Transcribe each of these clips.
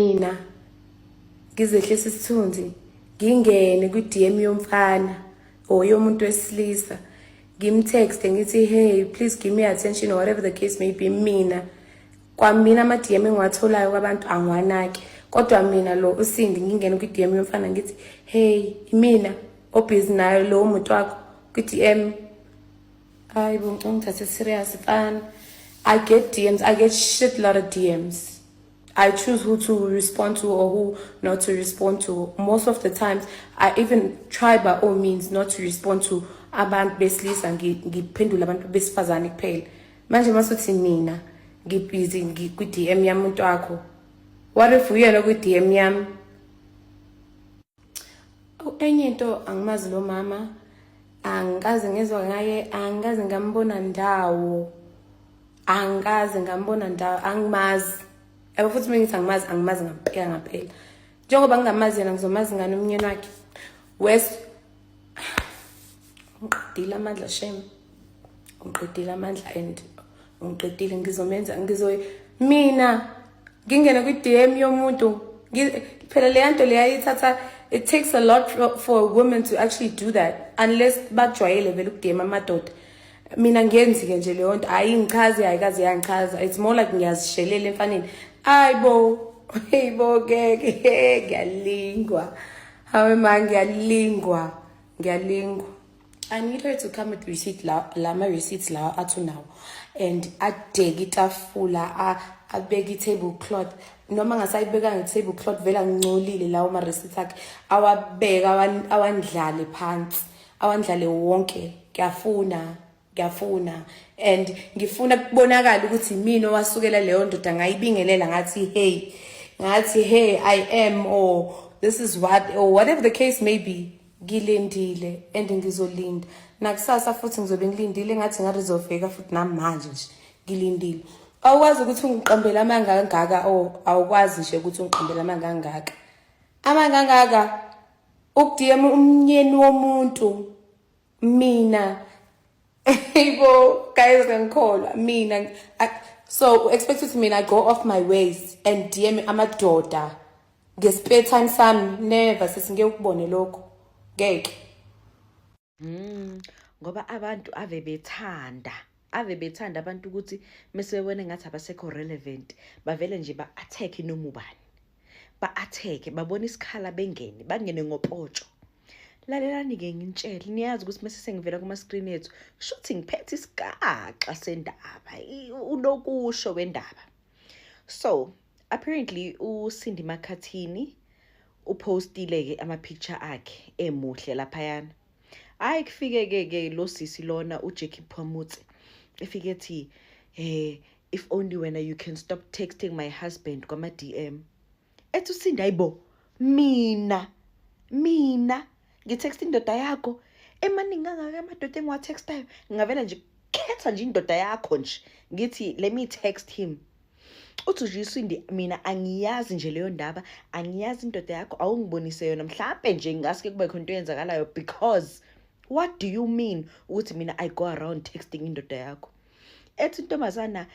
mina ngizehlisa isithunzi ngingene kwi-dm yomfana or yomuntu wesilisa ngimtexte ngithi hey please give me attention or whatever the case may be mina kwamina ama-dm engiwatholayo kwabantu angiwanaki kodwa mina lo usindi ngingene kwi-dm yomfana ngithi hey imina obhizi nayo lowo muntu wakho kwi-dm hayi bo ngicongithathe serious fana i get dms i get shit lot of dms I choose who to respond to or who not to respond to. Most of the times, I even try by all means not to respond to abantu besilisa ngiphendula abantu besifazane kuphela manje masuthi mina ngibhizi kwi-dm yami umuntu wakho what if uyena kwi-dm yami enye into angimazi lo mama angikaze ngezwa ngaye angikaze ngambona ndawo angikaze ngambona ndawo angimazi yabo futhi uma ngithi angimazi angimazi ngampela ngampela njengoba ngingamazi yena ngizomazi ngani umnyeni wakhe west ungiqedile amandla shame ungiqedile amandla and ungiqedile ngizomenza ngizoy mina ngingene kwi-dm yomuntu phela leya nto leya ithatha it takes a lot for a woman to actually do that unless bajwayele vele ukudm amadoda mina ngiyenzi-ke nje leyo nto hhayi ngichazi hhayi kaze yangichaza it's more like ngiyazishelela emfaneni ayi bo hey bo ngeke ngiyalingwa Hawe ma ngiyalingwa ngiyalingwa I need her to come with receipt la la ma receipts lawa athu nawo and adeke itafula abeke i-table cloth noma ngasayibeka nge-table cloth vele angincolile lawo ma-receipt akhe awabeka awandlale phansi awandlale wonke ngiyafuna ngiyafuna and ngifuna kubonakala ukuthi mina owasukela leyo ndoda ngayibingelela ngathi hey ngathi hey i am or this is what or whatever the case may be ngilindile and ngizolinda nakusasa futhi ngizobe ngilindile ngathi ngathi zofika futhi namanje nje ngilindile awukwazi ukuthi ungiqambele amanga angaka o oh, awukwazi nje ukuthi ungiqambele amanga angaka amanga angaka ukudm umnyeni womuntu mina Ibo guys ngangikholwa mina so expect ukuthi mina I go off my ways and DM amadoda nge spare time sami never sesingeke ukubone lokho ngeke mm ngoba abantu ave bethanda ave bethanda abantu ukuthi mesebebone ngathi abasekho relevant bavele nje ba attack noma ubani ba attack babona isikhala bengene bangene ngopotsho lalelani-ke ngintshele niyazi ukuthi mese sengivela kuma-screen ethu kushuthi ngiphethe isigaxa sendaba unokusho wendaba so apparently usindi makhathini uphostile-ke ama-picture akhe emuhle laphayana hhayi kufike-ke ke lo sisi lona ujackie phamutse efike ethi um if only wena you can stop texting my husband kwama-d m ethi usinda ayibo mina mina ngitexta indoda yakho emaningi kangaka amadoda engiwatextayo ngingavela nje khetha nje indoda yakho nje ngithi let me text him uthi nje isindi mina angiyazi nje leyo ndaba angiyazi indoda yakho awungibonise yona mhlawumbe nje ngingasuke kube khona into eyenzakalayo because what do you mean ukuthi mina i go around texting indoda yakho ethi intombazana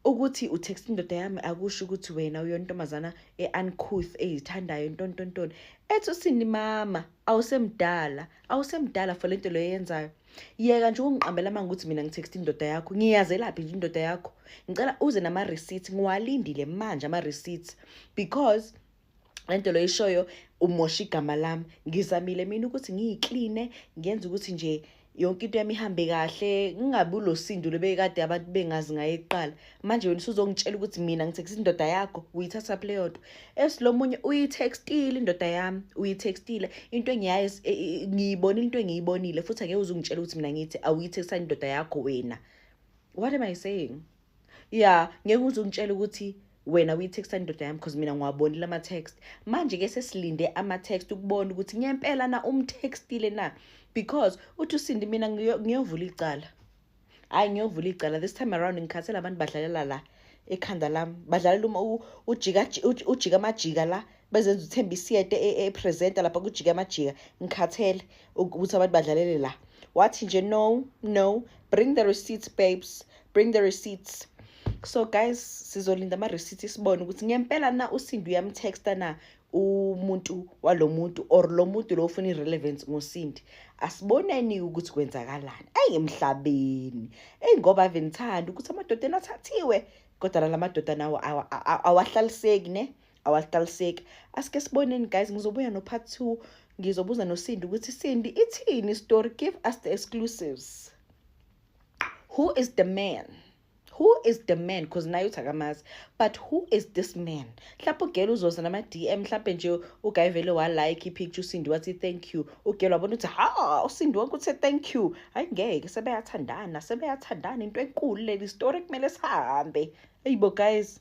ukuthi utext indoda yami akusho ukuthi wena uyontombazana e-uncouth eyithandayo ntontontoni ethi usini mama awusemdala awusemdala for le nto leyo eyenzayo yeka nje ukungiqambela manga ukuthi mina ngitext indoda yakho ngiyazelaphi nje indoda yakho ngicela uze nama-receipt ngiwalindile manje ama-receipt because lento lo ishoyo umosha igama lami ngizamile mina ukuthi ngiyikline ngenza ukuthi nje yonke into yami ihambe kahle ngingabi ulosindu lebekade abantu bengazi ngaye eqala manje wena usuzongitshela ukuthi mina ngithekisa indoda yakho uyithatha phi leyo nto esilomunye uyithextile indoda yami uyithextile into engiyaye e, e, ngiyibonile into engiyibonile futhi angeke uzungitshela ukuthi mina ngithi awuyithextile indoda yakho wena what am i saying ya ngeke uze ungitshele ukuthi wena uyitexta indoda yami because mina ngiwabonile ama-text manje-ke sesilinde ama-text ukubona ukuthi ngempela na umtextile na because uthi usindi mina ngiyovula icala hhayi ngiyovula icala this time around ngikhathela abantu badlalela la ekhanda lami badlalela ujika amajika la bezenza uthemba isiyete e, e, epresenta lapha kujike amajika ngikhathele ukuthi abantu badlalele la wathi nje no no bring the receipts babes bring the receipts so guys sizolinda ama-receipt sibone ukuthi ngempela na usindi uyamtexta na umuntu walo muntu or lo muntu lo ufuna i-relevance ngosindi asiboneni ukuthi kwenzakalani eyi emhlabeni eyi ngoba ave ngithanda ukuthi amadodeni athathiwe kodwa nala madoda nawo awahlaliseki ne awaqaliseki asike siboneni guys ngizobuya no part 2 ngizobuza nosindi ukuthi sindi ithini story give us the exclusives who is the man who is the man because naye uthi akamazi but who is this man mhlawumpe ugela uzoza nama-dm mhlawumpe nje ugayi vele walike ipicture usindi wathi thank you ugela wabona ukuthi ha usindi wonke uthe thank you hayi ngeke sebeyathandana sebeyathandana into enkulu leli story kumele sihambe eyibo guys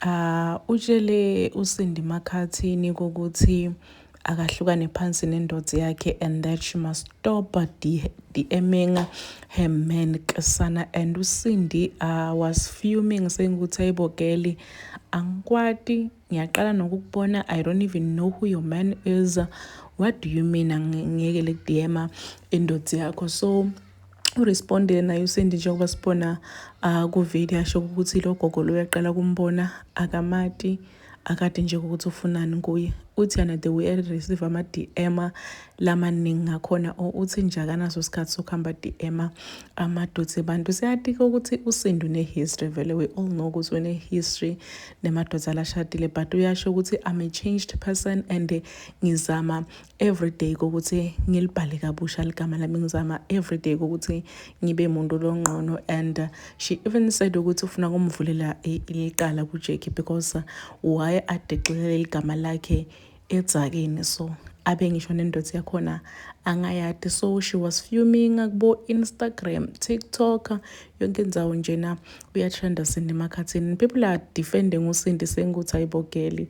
Ah, utshele uSindi Makhathini ukuthi akahlukane phansi nendoda yakhe and that she must stop DMing her man Kisana and uSindi uh, was fuming saying ukuthi ayibo girl angikwati ngiyaqala nokukubona I don't even know who your man is what do you mean angiyekele kudiyema indoda yakho so urespondile naye uSindi njengoba sibona uh, kuvideo asho ukuthi lo gogo lo uyaqala kumbona akamati akade nje ukuthi ufunani kuye uthi yena the way receive ama-dm lamaningi ngakhona or uthi nje akanaso isikhathi sokuhamba dm amadodsi abantu siyatika ukuthi usindu ne-history vele we all know ukuthi une-history nemadoda alashadile but uyasho ukuthi i'm a changed person and ngizama everyday kokuthi ngilibhale kabusha ligama lami ngizama everyday kokuthi ngibe muntu longqono and uh, she even said ukuthi ufuna kumvulela iqala kuJackie because uh, why adexelele igama lakhe edzakeni so abe ngisho nendoda yakhona angayati so she was fuming kubo Instagram TikTok yonke indawo njena uyatrenda Sindi emakhathini people are defending uSindi senguthi ayibogeli